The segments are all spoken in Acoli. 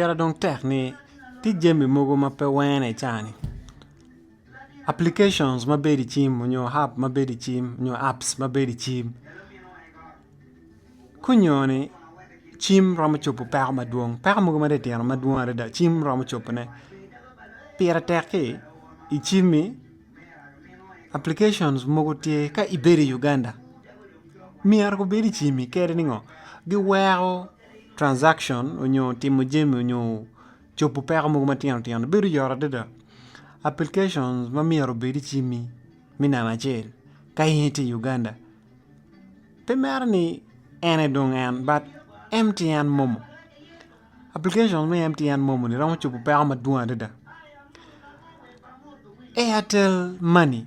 Pire dong tek ni tye jami mogo ma pe wene i caa-ni application ma bedo i cim nyo app ma bedo i cim nyo apps ma bedo i cim kunyoni cim romo cobo peko madwong peko mogo ma titino madwong adada cim romo cobone pire tek-ki i cim-mi application mogo tye ka ibedo i Uganda myero gubed i cim-mi kadi ni ngo giweko transaction nyo timo jami nyo cobo peko mogo matino tino bedo yot adada application ma myero obed icimi me namba acel ka in itye i Uganda pe mere ni en aye dong en but MTN momo application me MTN momo ni romo cobo peko madwong adada Airtel money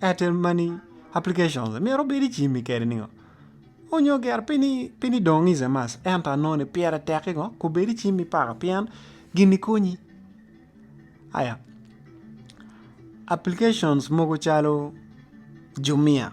Airtel money applications myero obed i cimi kede ningo? Onyo ger pi ni pi ni dong is a must ento anongo ni pire tek ki ngo kobed i cimi paka pien gini konyi aya applications mogo calo jumia.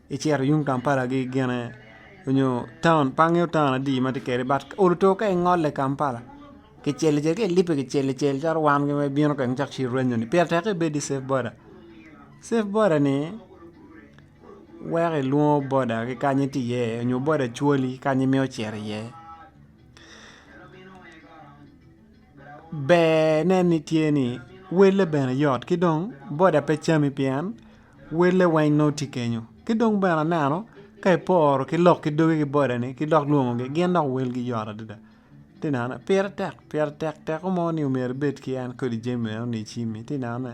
icito yung Kampala gi gine onyo taun pe angeyo taun adi ma tye kede but olu to ka ingole i Kampala ki cel cel ka ilipe ki cel cel calo wan ma ibino kany cok ci iranyo ni pire tek ibed ki safe boda, safe boda ni weko ilwongo boda ki kanya itye iye onyo boda cwali kanya imito cito iye. bene ni tye ni wele bene yot ki dong boda pe cami pien wele weng nongo tye kenyo ki dong bene aneno ka iporo ki lok ki dogi ki boda ni ki dok lwongogi gin dok welgi yot adada ti neno pire tek pire tek teko mo ni myero ibed ki en kodi jami meno ni icimi ti neno ne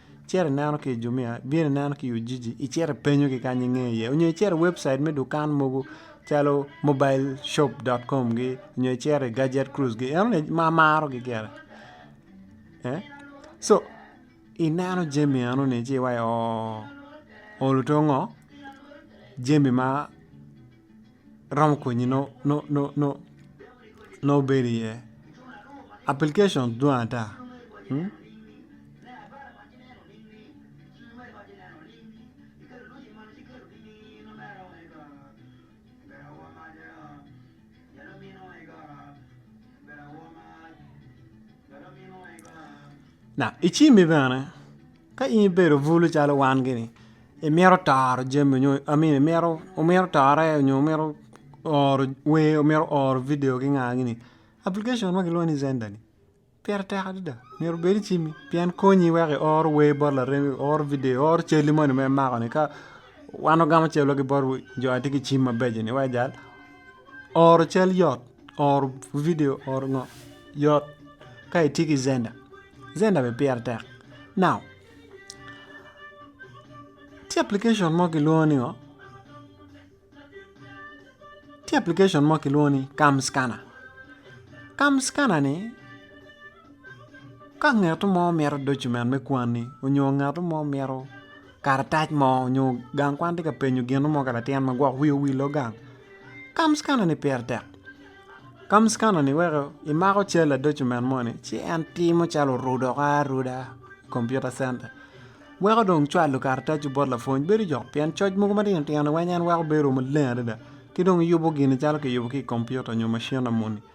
Icito ineno ki i Jumia, ibino ineno ki i Ujiji, icito ipenyogi kany inge iye. Onyo icito i webcit me dukan mogo calo mobileshop.com gi onyo icito i Gadget Cruise gi enoni ma amarogi gire. Co ineno jami enoni ci iwaco ooh olu to ngo jami ma romo konyi nongo ibedo iye application dwong ata. Ka in ibedo bulu calo wan gini imito toro jami nyo I mean imito omito tore nyo omito oro wer omito oro video ki nga gini application ma kilwongo ni zender ni pire tek adada myero obed icimi pien konyi wek I oro wer bot laremi I oro video I oro cali moni ma imako ni ka wan wagamo cal wa ki bot jo ma tye ki cim mabeco ni wek ojal oro cal yot Oro video oro ngo yot ka itye ki zenda zenda bene pire tek now tye application mo kilwongo ni ngo tye application mo kilwongo ni cam scanner cam scanner ni Ka ngat mo mito document me kwanni nyo ngat mo mito karatac mo nyo gang kwan tye ka penyo gin mo ka latin ma gwok wiye owil gang kam scanner ni pire tek kam scanner ni weko imako cal ladocument moni ci en timo calo orudo woko aruda i kompiuta centa weko dong cwalo karatacu bot lapwony bedo jok pien coc mogo matino tino weko bedo maleng adada ki dong yubo gini calo kiyubo ki i kompiuta nyo macin na moni.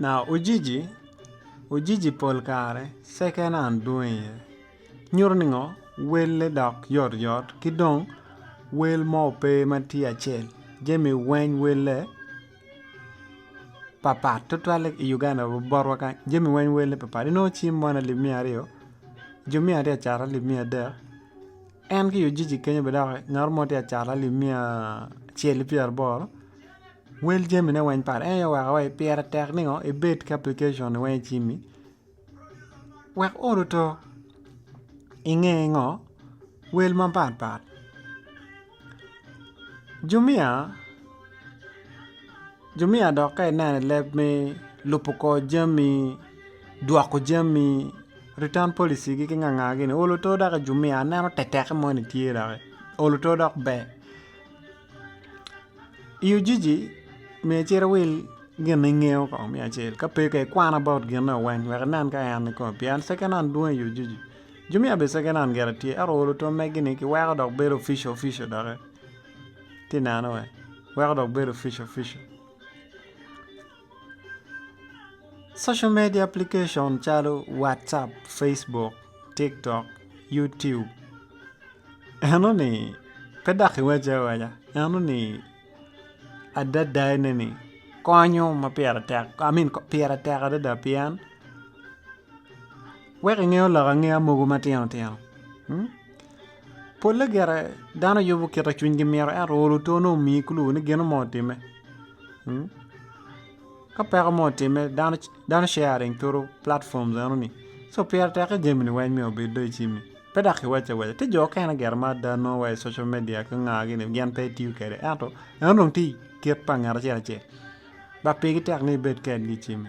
Now Ujiji, Ujiji pol kare second hand dwong iye, nyuto ni ngo welle dok yot yot ki dong wel mo pe ma tye acel jami weng welle papat tutwalle i Uganda wa botwa kany jami weng welle papat inongo cim mo ni alip miya aryo jo miya aryo acato alip miya adek en ki i Ujiji kenyo bene dok ngat mo tye acato alip miya acel ki pyeraboro Wel jamine weng pat en aye oweko wa pire tek ningo ibed ki aplikicon weng i cimi wek oruto inge ngo wel mapat pat jumia jumia dok ka ineno i leb me lubo kor jami dwoko jami return policy gi nga nga gini olo oto dok i jumia aneno teteke moni tye doki olo oto dok ber. I Ujiji myero icit iwil gin ma ingeyo kong me acel ka pe kong ikwan about gin eno weng wek inen ka en kong pien second hand dwong i Ujiji jumia bene second hand gire tye ento olo twom magi ni kiweko dok bedo official official doki, itye neno weny weko dok bedo official official. Social media application calo watsup, Facebook, tiktok, YouTube enoni pe dok iwace awaca enoni adadane ni konyo ma pire tek I mean pire tek adada pien weko ingeyo lok angeya mogo matino tino pole gire dano yubo kit ma cwinygi mito ento olo otone omiyi clue ni gino mo otimme. Ka peko mo otimme dano sharing turu platform enoni so pire tekke jamini weng myero obed dong icimi pe dok kiwaco awaca tye jo okene gire ma ada nongo wa i social media ki nga gini gin pe gitiyo kwede ento eno dong tye kit pa ngat acel acel dok pigi tek ni ibed kedgi icimi.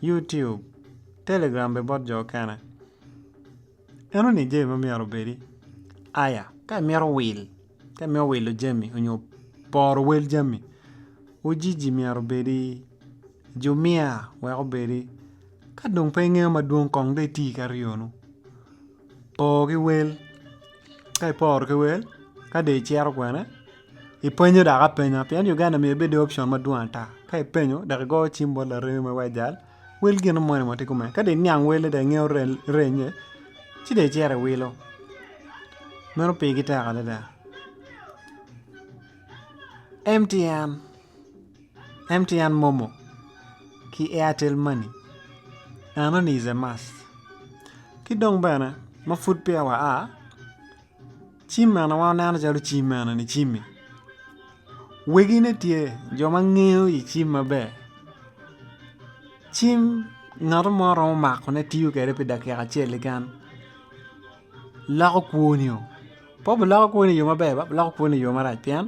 YouTube, Telegram bene bot jo okene. Eno ni jami ma myero obedi. Aya, ka imito wil, ka imito wilo jami onyo poro wel jami, ujiji myero obedi, jumia wek obedi. Ka dong pe ingeyo madwong kong dong iti ki aryonu. Por ki wel, ka iporo ki wel, ka dong icito kwene. Ipenyo dok apenya pien Uganda omiyo ibedo i option madwong ata. Ka ipenyo dok igoyo cim bot laremi ma iwaco jal, wel gin mo ni watye kume. Ka dong iniang wele dok ingeyo rennye, ci dong icito iwilo. Meno pigi tek adada. MTN, MTN momo ki Airtel money enoni is a must. Ki dong bene ma pud peya wa a. Cim mene ma waneno calo cim mene ni cim-mi wegine tye jo ma ngeyo i cim maber cim ngat mo romo makone tiyo kwede pi dakika acel keken loko kwonio pe obiloko kwonio i yo maber ba biloko kwonio i yo marac pien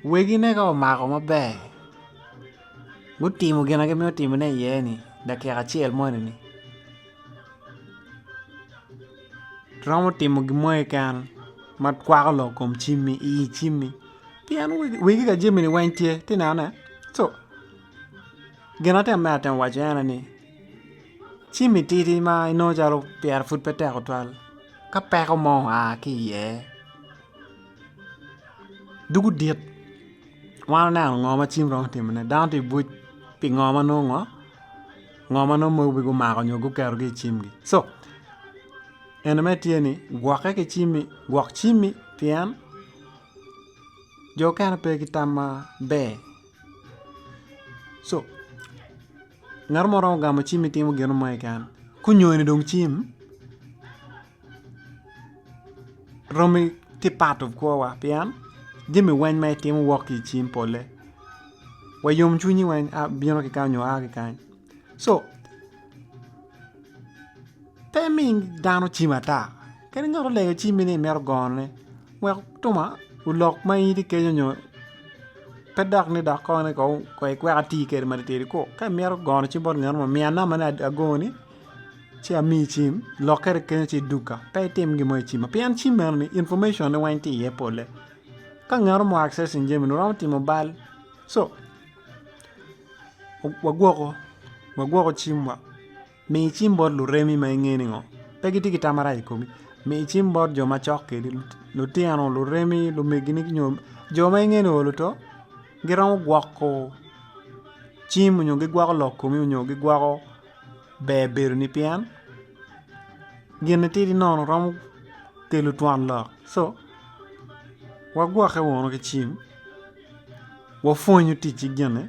wegine ka omako maber gutimo gin ma gimito timone iye-ni i dakika acel moni-ni. iromo timo gin mo keken ma kwako lok kom cimmi i yi cimmi pien wegi ka jammi ni weng tye ati neno ne co gin ma atye ka mito waco en aye ni cimmi tidi ma inongo calo pire pud pe tek tutwal ka peko mo oa ki iye dwogo dit wan oneno ngo ma cim romo timone dano tye ka bwec pi ngo ma nongo ngo Ngo ma nongo mogo pe gumako nyo guketo gi i cimgi so ene mere tye ni gwoke ki cimi gwok cimi pien jo okene pe ki tam maber so ngat mo romo gamo cimi timo gin mo keken kunyoni dong cim Romi tye part of kwowa pien jami weng ma itimo wok ki i cing pole wa yom cwinyi weng a bino ki kany nyo a ki kany so pe mi dano cim ata kadi ngat olego cimi ni imito gono ne wek twoma olok ma in itye kenyo nyo pe dok ni dok kong ni kong ikwek atir kwede matitidi ku ka imito gono cim bot ngat mo miya namba ni agoni. ci amiyi cim lokkere kene ci idukka pe itim gin mo i cimma pien cim eno ni information ne weng tye iye pole ka ngat mo accessing jami ni romo timo bal so wagwoko wagwoko cim wa mi cim bot luremi ma inge ni ngo pe gitye ki tam marac i komi mi cim bot jo macok kwedi lutino luremi lumegini nyo jo ma inge ni oo luto giromo gwoko cim nyo gigwoko lok komi nyo gigwoko ber bedo ni pien gin matidi nono romo kelo twon lok so wagwokke wunu ki cim wapwonyu ticci gini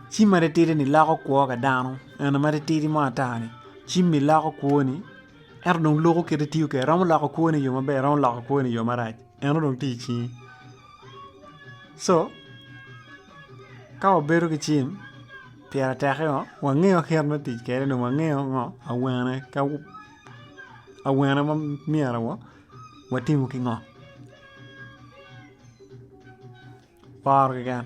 cim matitidi ni loko kwo ka dano eni matitidi mo ata ni cim ni loko kwoni ento dong loko kit ma itiyo kwede romo loko kwoni i yo maber romo loko kwoni i yo marac eno dong tye i cingi so Ka wabedo ki cim pire tek o wangeyo kit me tic kwede dong wangeyo ngo awene ka awene ma myero watimo ki ngo poro keken.